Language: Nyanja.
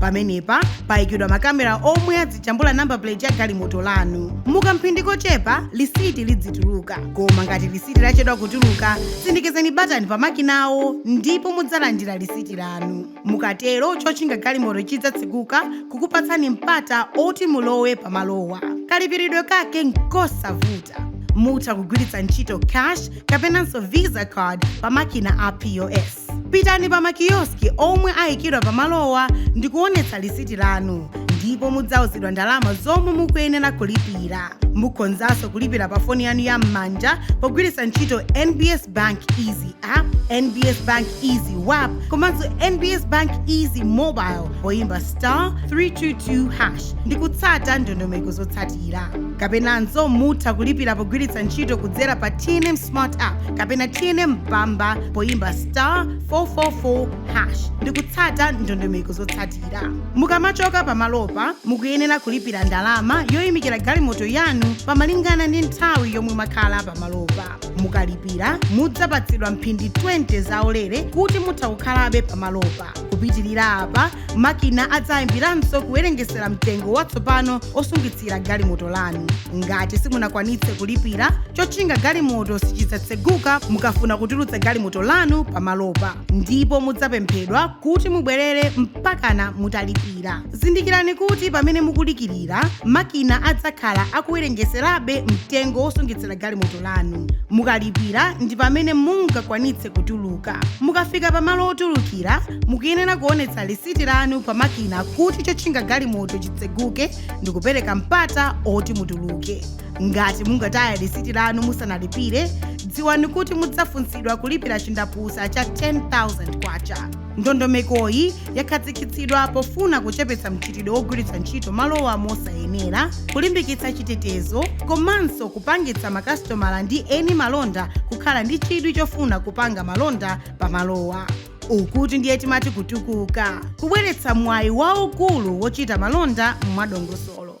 pamenepa payikidwa makamera omwe adzijambula number plate ya galimoto lanu mukamphindi kochepa lisiti lidzituluka koma ngati lisiti lachedwa kutuluka sindikizani batani pa makinawo ndipo mudzalandira lisiti lanu mukatero chotchinga galimoto chidzatsekuka kukupatsani mpata oti mulowe pamalowa kalipiridwe kake nkosavuta mutha kugwiritsa ntchito cash kapenanso visa card pa makina a pos pitani pa makiyoski omwe ayikidwa pamalowa ndi kuonetsa lisiti lanu ndipo mudzauzidwa ndalama zomwe mukuyenera kulipira mukhonzanso kulipira pa foni yanu ya m'manja pogwiritsa ntchito nbs bank easy app nbs bank easy wap komanso nbs bank easy mobile poyimba star 322 hash ndi kutsata ndondomeko zotsatira kapenanso mutha kulipira pogwiritsa ntchito kudzera pa tnm smart app kapena tnm mpamba poyimba star 444 hash ndikutsata ndondomeko zotsatira mukamachoka pamalopa mukuyenera kulipira ndalama yoyimikira galimoto yanu molingana ndi nthawi yomwe mwakhala pamalopa mukalipira mudzapatsidwa mphindi 20 zaulere kuti mutha kukhalabe pamalopa kupitirira apa makina adzayambiranso kuwerengesera mtengo watsopano osungitsira galimoto lanu ngati simunakwanitse kulipira chotchinga galimoto sichidzatseguka mukafuna kutulutsa galimoto lanu pamalopa ndipo mudzapemphedwa kuti mubwerere mpakana mutalipira zindikirani kuti pamene mukudikirira makina adzakhala akuwerengeserabe mtengo wosungitsira galimoto lanu mukalipira ndi pamene mungakwanitse kutuluka mukafika pamalo otulukira mukuyenera kuonetsa lisiti lanu pa makina kuti chotchinga galimoto chitseguke ndi kupereka mpata oti mutuluke ngati mungataye lisiti lanu musanalipire dziwani kuti mudzafunsidwa kulipira chindapusa cha 10000 kwacha ndondomekoyi yakhazikitsidwa pofuna kuchepetsa mchitidwe wogwiritsa ntchito malowa mosayenera kulimbikitsa chitetezo komanso kupangitsa makasitomala ndi eni malonda kukhala ndi chidwi chofuna kupanga malonda pa malowa ukutu ndiye timati kutukuka kubweretsa mwayi waukulu wochita malonda mwadongosolo